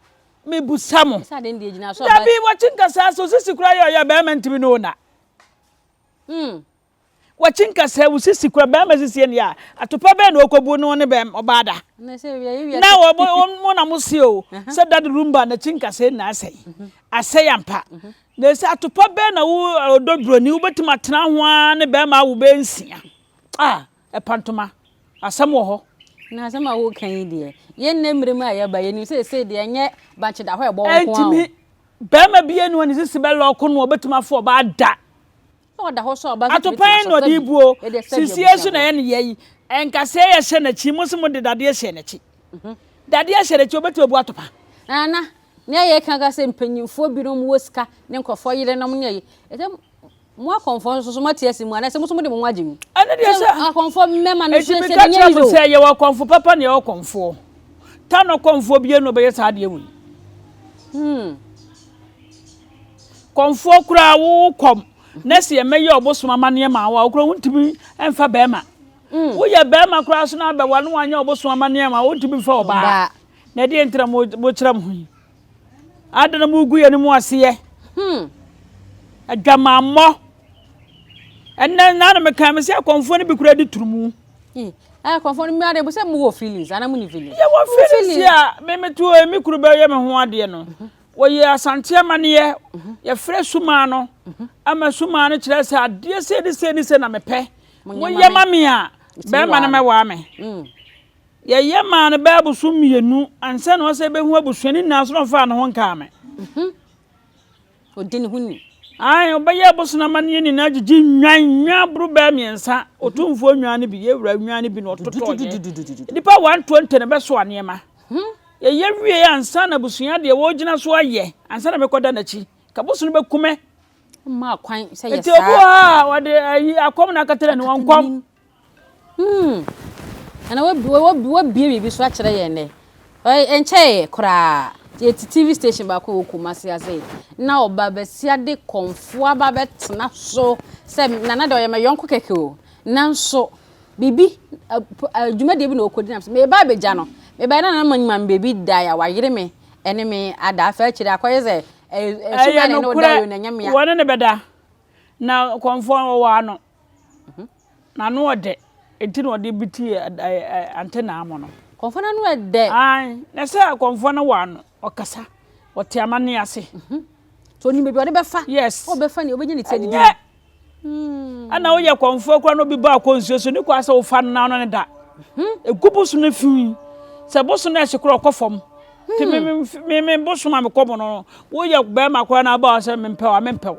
Me busa mo. Sa den di egyina so. Dabi wakyi nkasa so sisi kura yɛ ɔyɛ bɛrima ntumi no na. Hmm. Wakyi nkasa wo sisi kura bɛrima sisi ɛni a atopa bɛn na ɔkɔbu no ne bɛrima ɔbaa da. Na wɔbɔ wɔn na mo si o sɛ dadi rumba na kyi nkasa na asɛe mhm. asɛe ampa mhm. na sɛ atopa bɛn na wo ɔdɔ buroni wobɛtumi atena ho a ne bɛrima awo bɛnsia ah Ɛpa ntoma. Asɛm wɔ hɔ. Na asɛm a woreka yi deɛ, yɛn nnɛ mmere mu a yɛaba yi, yɛnim sɛ seesei deɛ ɛnyɛ bankye da hɔ a ɛbɔ wo nko ara o. Ɛntumi. Barima bi anu a ne sisi bɛ lɔɔko no a ɔbɛtumi afa ɔbaa da. Sɛ ɔda hɔ so a, ɔbaa nso tumi tena so. Atopa na ɔde rebu o. Sisiɛ nso na ɛyɛ ne yea yi. Nkasɛɛ yɛ hyɛ n'akyi. Mo se mode dadeɛ hyɛɛ n'akyi. Dadeɛ hyɛ n'akyi, ɔbɛtumi abu atopa. Nana, nea yɛreka ara sɛ mpanyimfoɔ binom wɔ sika ne nkurɔfoɔ yerenom ne ɛyi. Mo akɔmfoɔ nso so moate asi mu, anaasɛ mo nso mode mo ho agye mu? Ɛno deɛ sɛ. Sɛ akɔmfoɔ mmɛma no so, sɛ ɛnyɛ Israel. Sɛ yɛwɔ akɔmfo papa ne yɛwɔ kɔmfoɔ. Tanɔ kɔmfoɔ biara na ɔbɛyɛ saa adeɛ wei. Hmm. Kɔmfoɔ koraa wo kɔm. Na sɛ yɛmɛyɛ ɔbosom amanneɛ ma wo a, wo koraa wontumi mfa bɛrima. Hmm. Woyɛ bɛrima koraa so na abɛwa no wanyɛ ɔbosom amanneɛ ma wontumi mfa ɔbaa. Na ɛdeɛ nti na mokyerɛ mo ho yi. Adɛn na mogu yɛn mu ase yɛ? Hmm. Adwamammɔ. Ɛnɛ na na mekan me sɛ akɔmfoɔ no bi kura di turu mu. Hmm. Ɛyɛ akɔmfoɔ no mmea de bu sɛ mo wɔ feelings ana mo ni feelings. Yɛ wɔ feelings yɛ a mɛmɛ to emi kuru bɛ yɛ me ho adeɛ no. Mhm. Wɔyɛ asante amaneɛ mhm. yɛfrɛ sumaa no mhm. ama sumaa no kyerɛ sɛ adeɛ sɛ ne sɛ ne sɛ na mepɛ. Mo yɛ ma me a bɛrima no mɛwaa me. Hmm. Yɛyɛ maa no bɛyɛ abosom mmienu ansa na ɔsɛ bɛhu abusuani nyinaa so na ɔfaa ne ho nkaa me. Mhm. Ɔdi ne ho ni. Ae, ɔbɛyɛ abosom amanneɛ nyinaa gyegye nnwan, nnwan aboro bɛyɛ mmiɛnsa, mhm. ɔtumfoɔ nnwan no bi, yɛwura nnwan no bi na ɔtotɔ yɛ. Nnipa 120 na bɛsoa nneɛma. Mhm. Yɛyɛ wie ansa na abusua deɛ wɔgyina so ayɛ ansa na mekɔda n'akyi. Kabosom bɛkumɛ. Mmaa kwan sɛ yɛ saa. Nti obu a wɔde ayi akɔm na akatara ne wɔn kɔm. Hmm. Ɛna wabie wabie wabie biribi so akyerɛ yɛn nɛ. Ɛnkyɛɛ koraa. Yɛte TV station baako wɔ Kumasi ase. Na ɔba bɛsia de kɔnfoɔ aba bɛtena so sɛ nana deɛ ɔyɛ ma yɔnko kɛkɛ o. Nanso biribi adwumadie bi na ɔkɔdi nam sɛ meba abɛgya no. Meba na nana manyima me baabi da a wayere me ɛne me ada. Afei akyire akɔyɛ sɛ ɛso bɛyɛ ne ne ɔda yɛ na ɛnyɛ mea. Wɔne ne bɛda. Na kɔnfoɔ no ɔwɔ ano. N'ano ɔdɛ, ntsi na ɔdze btsi antenaa mu no. Kɔmfoɔ no ano ɛdɛ. Ae, na sɛ kɔmfoɔ no wɔ ano, ɔkasa, ɔte amanneɛ ase. Nti ɔnim baabi a ɔde bɛfa. Yes. Ɔbɛfa nea ɔbɛnya ne ti adidi. Ɛnyɛ. Hmm. Ɛna woyɛ kɔmfoɔ koraa na obi ba akɔ nsuo so, ne kwan sɛ wofa no na ɔno ne da. Egu boso no fi. Sɛ boso no ɛhye koraa ɔkɔ fam. Nti me me boso a mekɔ mu no, woyɛ bɛrima koraa na aba hɔ sɛ mempɛ wo a, mempɛ wo.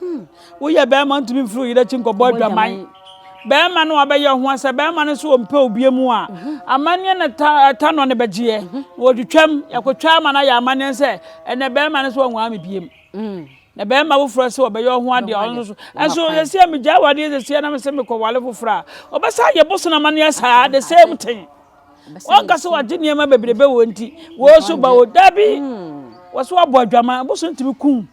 Hmm, woyɛ bɛrima ntumi mfiri wo yere akyi nkɔbɔ adwaman. Bɛrima no wabɛyɛ ho asɛ bɛrima no nso ɔmpɛ obie mu a mhm. amanneɛ na ɛta nɔ no bɛgyeɛ mhm. wɔtwitwam yɛkɔtwa ama no ayɛ amanneɛ sɛ ɛnɛ bɛrima no so ɔnwaa me biem mm. na bɛrima foforɔ sɛ ɔbɛyɛ ho adeɛ ɔno so ɛnso sɛsia megya wadeɛ sɛsia na mesɛ mekɔwale foforɔ a ɔbɛsa yɛ boso no amanneɛ saa the same thing wɔnka sɛ wagye nneɛma bebrebe wɔ nti wɔso ba o dabi mm. wɔso abɔ adwama boso ntumi kum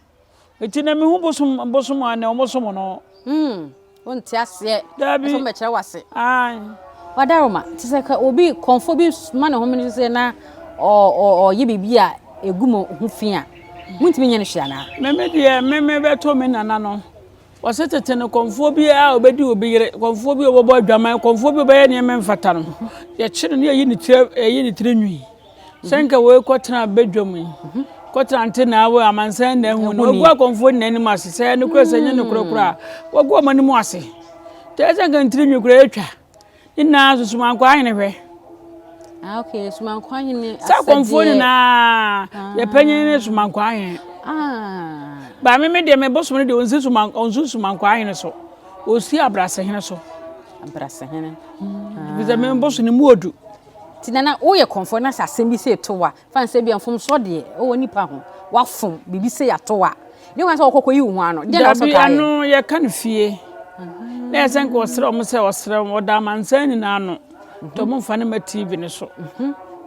Nti na mehu bosom bosom a na wɔn som no. Hmm, wonte aseɛ. Daabi. Ɛsɛ wɔbɛkyerɛ wase. Ae. Wadaroma, te sɛ ka obi kɔnfo bi ma ne home no sɛ na ɔyɛ biribi a ɛgu mu ho fi a, montumi nyɛ no hwee anaa? Meme deɛ, meme bɛtɔ me nana no. Wɔse tete no kɔmfoɔ bi a ɔbɛdi obi yere, kɔmfoɔ bi a ɔbɛbɔ adwaman, kɔmfoɔ bi a ɔbɛyɛ nneɛma mfata no, yɛkye no ne yɛyi ne tiri ɛyi ne tiri nwi. Sɛ nka wei kɔtena badwam yi, kɔtena nte na awo amansan na ahu no, wagu akɔmfoɔ nyinaa anim ase, sɛ ɛno kora sɛ nyɛ no kora kora, wagu ɔmo anim ase. Tɛ sɛ nka ne tiri nwi kora atwa. Ne nyinaa nso Sumankoa hene hwɛ. Ah, ok, Sumankoa hene asɛdeɛ. Sɛ akɔmfoɔ nyinaa, ah. yɛpanyin ne Sumankoa hene. Ah. Ba me me deɛ me bosom no deɛ ɔnsi Suman ɔnsi Sumankoa hene so, ɔsi Abrase hene so. Abrase hene. Bisɛ me bosom ne mu odu. Ti nana woyɛ kɔmfoɔ na sɛ asɛm bi sɛ ɛto wa Fan sɛ bia mfomsoɔ deɛ ɛwɔ nipa ho wafom biribi sɛ yato wa ne wan sɛ ɔkɔkɔ yi wo ho ano deɛ na ɔsɛ kaa yɛ. Dabi ano yɛ ka no fie na yɛ sɛ nka ɔsrɛ ɔmo sɛ ɔsrɛ ɔmo ɔda amansan nyinaa ano nti ɔmo mfa no ma TV no so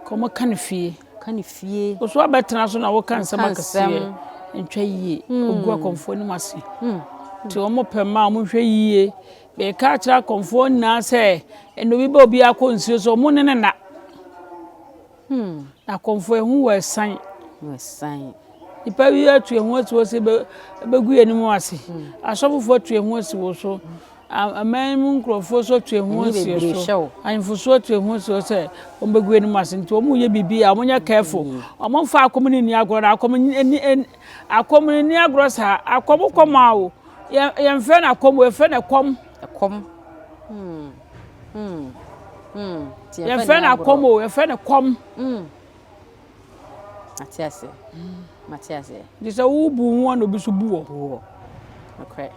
ka ɔmo ka no fie ka no fie ɔso abɛtena so na woka nsɛm akɛseɛ ntwa yie ogu akɔmfoɔ no mu ase nti ɔmo pɛ ma ɔmo hwɛ yie bɛka akyerɛ akɔmfoɔ nyinaa sɛ ɛna obi bɛ obi akɔ nsuo so ɔmo ne ne na Akɔmfo ehu wɔ san. Wɔ san. Nipa bi atu ehu asi hɔ sɛ ebegu yɛn anim ase. Hmm. Asɔfofo atu ehu asi wɔ so. Hmm. Aman mu nkurɔfo so atu ehu asi wɔ so. Ahemfo so atu ehu asi wɔ sɛ wɔn begu yɛn anim ase nti wɔn yɛ biribi a wɔn nyɛ careful. Hmm. Wɔn mfa akɔm ne ni agorɔ na akɔm ni akɔm ne ni agorɔ saa akɔm kɔm a o yɛn fɛ na akɔm yɛn fɛ na kɔm. Kɔm. Hmm. yɛmfrɛ no akɔm o yɛfrɛ no kɔm mate aseɛ mate aseɛ nti sɛ wobu ho a na obi so bu wɔ buwɔ nokorɛ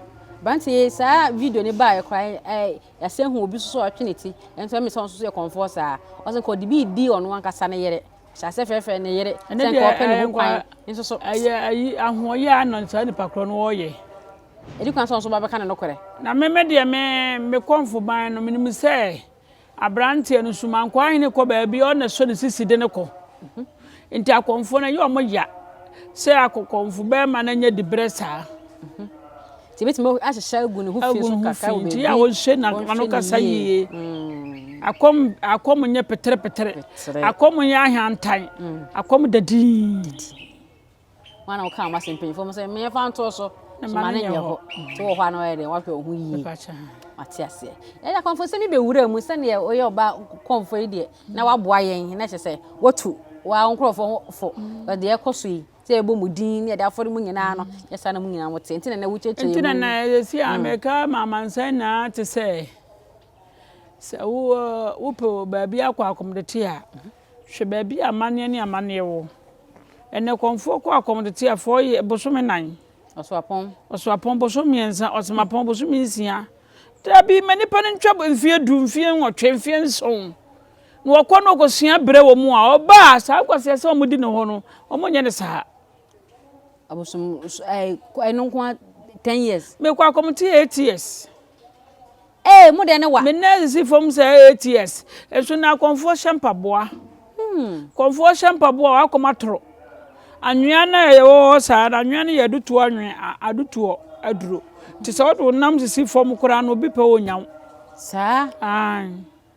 bante saa video ne baeɛ koraa yɛsɛ hu obi so so ɔtwe ne ti ɛnso ɛmi sɛ ɔnso so yɛ kɔmfoɔ saa ɔsɛ nka ɔde bi di ɔno ankasa ne yere hyɛ asɛ frɛfrɛ ne yere sɛ nka ɔpɛ ne ho kwan nso so ɛyɛ ayi ahoɔyɛ a na saa nipa korɔ no ɔyɛ edi kan sɛ ɔno nso ba bɛka ne nokorɛ. Na me me deɛ, me, me kɔnfoban no, menim sɛ aberanteɛ no su, mankɔa hene kɔ baabi a ɔno na ɛsɔ ne sisi de no kɔ. Nti akɔnfoɔ no, ɛyɛ wɔn ya sɛ akɔkɔnfo bɛrima no anya diberɛ saa. Nti ebetumi ahyehyɛ agu ne ho fi so kakra wɔ baabi. Nti a wɔnhyɛ na ano kasa yie. Akɔm, akɔm nyɛ peterepetere. Akɔm nyɛ ahantan. Akɔm da dinn. Wọn na wɔka wɔn asɛm mpanyinfoɔ mo sɛ mmɛnfa ntoɔ so. Soma ne nyɛ hɔ. Nti wɔ hɔ a na wɔyɛ dɛ wɔahwɛ wɔn ho yie. Wate aseɛ. Yɛyɛ akɔmfo sɛ mi bɛwura mu sɛdeɛ ɔyɛ ɔba kɔmfo yi deɛ na waboa yɛn na kyɛ sɛ watu wɔn nkorɔfoɔ ho fo. Deɛ ɛkɔ so yi sɛ yɛbɔ mu din ne yɛde afɔre mu nyinaa no yɛ saa na mu nyinaa mo te. Nti na na wokyerɛkyerɛ yɛn mu. Nti na na yɛ si a mɛka ma amansan nyinaa te sɛ sɛ wopɛ baabi akɔ akɔmdete a Hwɛ baabi a amanneɛ ne amanneɛ wɔ. Ɛnnɛ kɔmfoɔ kɔ akɔm tete a fɔɔ yɛ bosome nan. Ɔsoapɔn. Ɔsoapɔn bosome mmiɛnsa, ɔsemapɔn bosome nsia. Dabi ma nipa no ntwa mfeɛ du, mfeɛ nwɔtwe, mfeɛ nson. Na ɔkɔ no ɔkɔsua berɛ wɔ mu a ɔba a saa nkwaseɛ sɛ wɔn di ne hɔ no, wɔn nyɛ ne saa. Abosom ɛɛ ɛno nko ten years. Mekɔ akɔm te eight years. Ee, mo deɛ ne wa. Me nan si fam sɛ ATS. Nso na akɔmfoɔ hyɛ mpaboa. Kɔmfoɔ hyɛ mpaboa a w'akɔm atoro. Anwea no a yɛwɔ hɔ saa no, anwea no yɛ adutoɔ anwea, adutoɔ aduro. Nti sɛ wode wo nam sisi fam koraa no, obi pɛ wo ɔnya wo. Saa? Aane.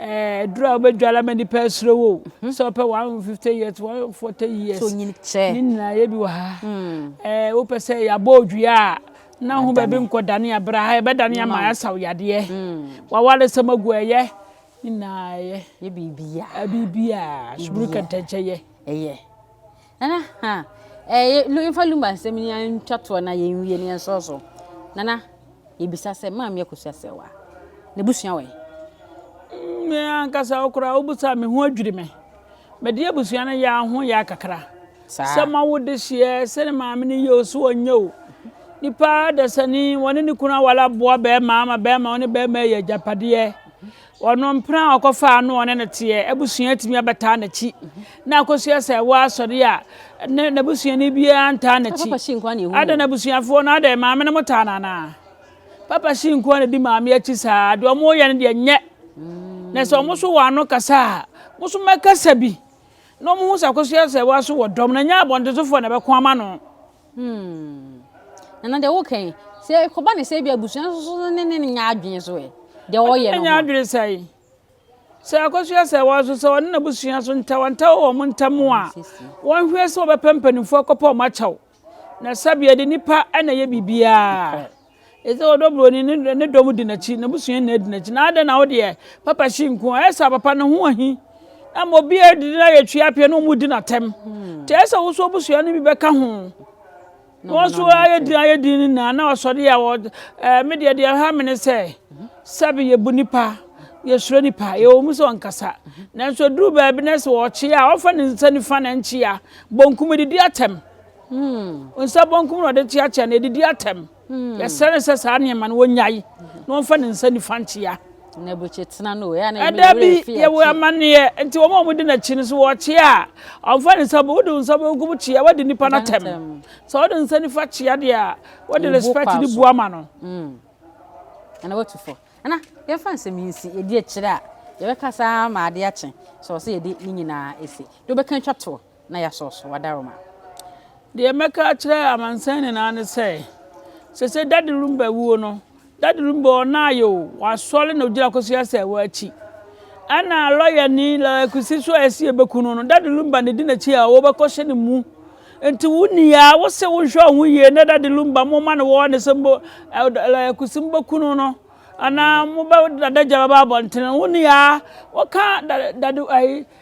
Eh aduru a wobɛdware ama nipa asuro wo hu sɛ wopɛ 150 years 140 years so nyini kyɛ ne nyinaa yɛ bi wɔ ha hmm. eh wopɛ sɛ yɛabɔ odua a na ho baabi nkɔdane abra ha yɛbɛdane ama asaw yadeɛ hmm. waware sɛm agu ɛyɛ ne nyinaa yɛ yɛ biribia biribia suburu kɛntɛnkyɛ yɛ ɛyɛ Nana ha ɛɛ yɛ lu yɛnfa lumba nsɛm yi ara ntwa toɔ na yɛnwie na yɛnsɔ so. Nana yɛbisa sɛ maame akosua sɛ wa n'abusua wɔ he? Me ankasa wo koraa wobisa a me ho adwiri me. Mede abusua no yɛ a ho yɛ a kakra. Saa. Sɛ mawo dehyeɛ sɛ ne maame no yɛ o so ɔnyɛ o. Nipa dasani wɔne ne kunu aware aboa bɛɛma ama bɛɛma wɔne bɛɛma ayɛ agyapadeɛ. Ɔno mpena a ɔkɔfaa no a ɔne no teɛ abusua tumi abɛtaa n'akyi na akɔsua sɛ ɛwɔ asɔre a ne n'abusuani biara ntaa n'akyi. Adɛn abusuafoɔ no adɛn maame no motaa no anaa? Papa Shi nko ara na di maame akyi saa deɛ ɔmo yɛ no deɛ nyɛ na sɛ ɔmo so wɔn ano kasa a mo so mɛkasa bi na ɔmo ho sɛ akɔsua sɛ ɛwɔ aso wɔ dɔm na nyɛ abɔntensofoɔ na ɛbɛko ama no. Hmm. Nana deɛ woka yi, sɛ ɛkɔba ne sɛ ebi abusua nso so ne ne nya adwene so ɛ. Deɛ ɔyɛ no ho. Nya adwene sɛ yi. Sɛ akɔsua sɛ wɔn nso sɛ wɔne n'abusua so ntawantawa wɔ wɔn ntam a, wɔnhwɛ sɛ wɔbɛpɛ mpanimfoɔ akɔpɛ wɔn akyɛw. Na sɛbea de nipa na ɛyɛ biribiara. Ese ɔdɔ buroni ne ne dɔm di n'akyi, n'abusua nyinaa di n'akyi. Na adɛn na wo deɛ papa hyi nko a? Ɛyɛ sɛ papa ne ho ahi. Na ma obiara didi na yɛ twi apea na wɔn di n'atɛm. Hmm. Te ɛyɛ sɛ woso abusua no bi bɛka ho. Na wɔn so ayɛ din ayɛ din no nyinaa na wɔsɔre a wɔ ɛɛ me deɛ deɛ ha mene sɛ sɛbi yɛ bu nipa yɛsuro nipa yɛwɔ mu sɛ ɔnkasa nanso duru baabi na sɛ wɔkye a ɔfa ne nsa nifa na nkyea bonkum didi atɛm. Nsa benkum na ɔde to akyɛ na edidi atɛm. Yɛsrɛ no sɛ saa nneɛma no wɔnnyae na wɔmfa ne nsa nifa nkyea. Ɛda bi yɛwɔ amanneɛ nti wɔn a wɔdi n'akyi no so wɔkyea a, ɔmfa ne nsa wode wo nsa benkum kyea wadi nipa no atɛm. Sɛ wode nsa nifa kyea deɛ a, wode respect de bu ama no. Ɛna watu fɔ. Ɛna yɛmfa nsɛm yi nsi ɛdi akyire a yɛbɛka saa ma adeɛ akye. Sɛ ɔsɛ yɛde ne nyinaa ɛsi. Deɛ wobɛka atwa toɔ. na yɛasɔ so adaroma. Deɛ mɛka akyerɛ amansan nyinaa ne sɛ, sɛ sɛ Daddy Rumba wuo no, Daddy Rumba ɔnaayɛ o, wasɔre na ɔgyina Akosua Asɛɛwa akyi. Ɛna lɔyani Lɔya Kwesi so a ɛsi ɛbɛku no no, Daddy Rumba na ɛdi n'akyi a wɔbɛkɔ hyɛ ne mu. Nti wo nua, wo se wo nhwɛ ɔho yie na Daddy Rumba mo ma no wɔɔne sɛ mo Lɔya Kwesi mo bɛku no no, anaa mo bɛ dadagya bɛba abɔntene no, wo nua, wo ka Daddy ayi,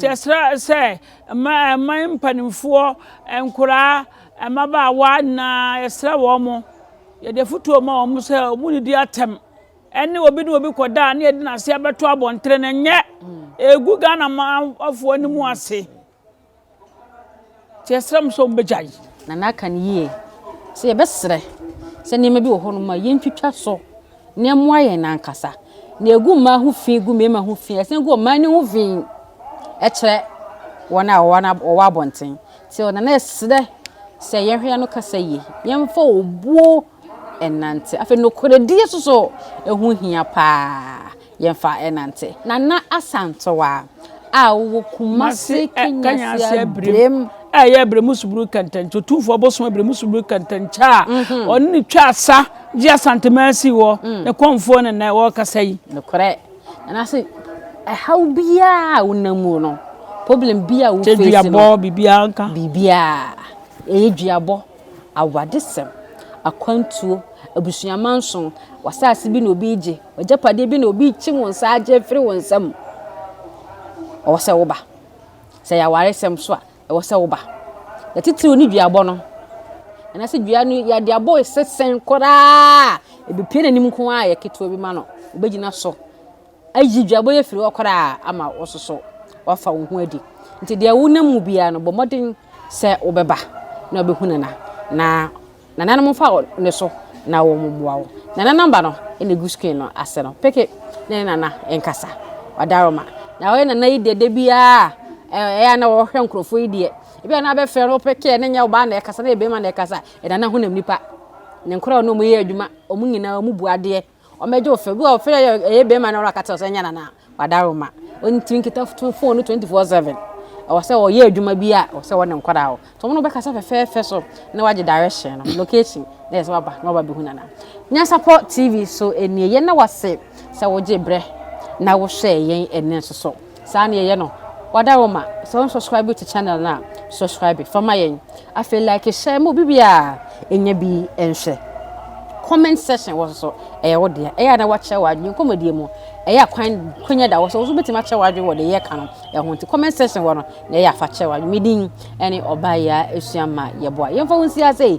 Kyerɛkyerɛ sɛ mma mpanimfoɔ nkoraa mmabaawa nyinaa, yɛsrɛ wɔn, yɛde afotuo ma wɔn sɛ wɔn nidi atɛm ɛne obi ne obi kɔda a ne yɛde n'ase abɛto abɔntene no nyɛ ɛgu Ghana manfoɔ no mu ase. Nti yɛsrɛ mo sɛ wɔbɛgyae. Na na aka no yie sɛ yɛbɛsrɛ sɛ nneɛma bi wɔ hɔnom a yɛntwitwa so na ɛmmoa yɛn ankasa. Na ɛgu mmaa ho fi, gu mmarima ho fi, ɛsane gu ɔman no ho fi kyerɛ wɔn a wɔwɔ abɔnten. Nti ɔna na ɛsrɛ sɛ yɛnhwɛ yɛn ano kasa yie, yɛmfa obuo nnante. Afei nokorɛdie nso so, ɛho hia paa. yɛmfa nnante. Nana Asantewaa a ɔwɔ Kumase Kanyansi Abirem. A ɛyɛ Abirem subunu kɛntɛnkyɛ otumfoɔ bosom Abirem subunu kɛntɛnkyɛ a mhm. ɔne ne twa asa gye Asante Mercy wɔ mm. ne kɔnfoɔ ne nnɛ wɔrekasa yi. Nokorɛ. Nana se ɛhaw biara a wonam mu no problem bi a wofeesi no. Kyɛ duabɔ biribiara nka. Biribiara. Ɛyɛ duabɔ. awadesɛm, akwantuo, abusua manso, w'asaase bi na obi regye, w'agyapadeɛ bi na obi rekye wo nsa agye afiri wo nsam, ɛwɔ sɛ woba. Sɛ ɛyɛ awaresɛm nso a, ɛwɔ sɛ woba. Na titiriw ne duabɔ no. Anaasɛ dua no yɛde abɔ esesɛn koraa a, ɛbɛpue n'anim nko ara a ɛyɛ ketewa bi ma no, ɔbɛgyina so. ayi dwabɔ afiri hɔ koraa ama wososo wafa wo ho adi nti deɛ wonam mu biara no bɔ mmɔden sɛ wobɛba na wobɛhu nana na nananom mfa ne so na wɔn mmoa wo nana namba no na egu screen no ase no peke na ne nana nkasa wadaroma na wɔyɛ nana yi deɛ da biara ɛyɛ na wɔhwɛ nkurɔfoɔ yi deɛ ebi a na abɛfrɛ no peke ne nyɛ ɔbaa na ɛkasa na ɛbɛma na ɛkasa ɛnana honam nipa ne nkora a wɔn yɛ adwuma wɔn nyinaa wɔn bu adeɛ Ɔmɛgye wo fɛ. Bi wɔ hɔ fɛ yɛ ɛyɛ bɛrima na ɔno aka kyerɛ sɛ ɛnyɛ nana wada roma. Ɔne tiri nkita fo fon no 24/7. Ɛwɔ sɛ ɔyɛ adwuma bi a ɛwɔ sɛ ɔne nkwadaa wɔ. Nti ɔmo no bɛkasa fɛfɛɛfɛ so na wagye direction no location na yɛ sɛ waba na waba bɛhu nana. Nyansapɔ TV so nie. Yɛn na wase sɛ wogye brɛ na wohwɛ yɛn ɛnɛ nso so. Saa na yɛyɛ no. Wada wo ma sɛ wo subscribe to channel no a subscribe fa ma yɛn. Afei like share ma obi biara ɛnya bi nhwɛ. Comment section wɔ so ɛyɛ wo dea. Ɛyɛ a na wakyerɛ w'adwene nkɔmmɔdie mu. Ɛyɛ a kwan kwanya da wɔ so nso bɛtumi akyerɛ w'adwene wɔ deɛ yɛka no ɛho nti comment section wɔ no na ɛyɛ a fa kyerɛ w'adwene. Me din ɛne Ɔbaa Yaa Esuama Yɛboa. Yɛmfa wo nsi ha sei.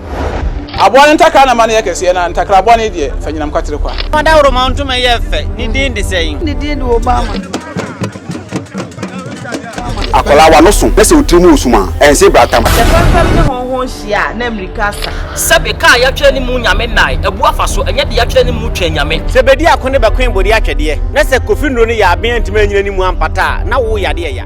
Aboa no ntakra na ma no yɛ kɛseɛ, na ntakra bɔne deɛ, fa nyinam kwatere kwa. Fa dawuroma ntoma yɛ fɛ, ne din de sɛn? Ne din de Obama. Akwadaa w'ano so na sɛ wo tiri mu wɔ sum a, ɛnse bratamu. Sɛ fɛmfɛm ne hɔnhɔn hyia a, na mmirika asa. Sɛbe ka a yɛatwerɛ ne mu Nyame nnae, abu afa so, ɛnyɛ de yɛatwerɛ ne mu Twɛn Nyame. Sɛ bedi ako ne bɛkoe bodi atwɛdeɛ, na sɛ kofi nnuro ne yaaben antumi annyina ne mu ampata a, na wo yadeɛ ya.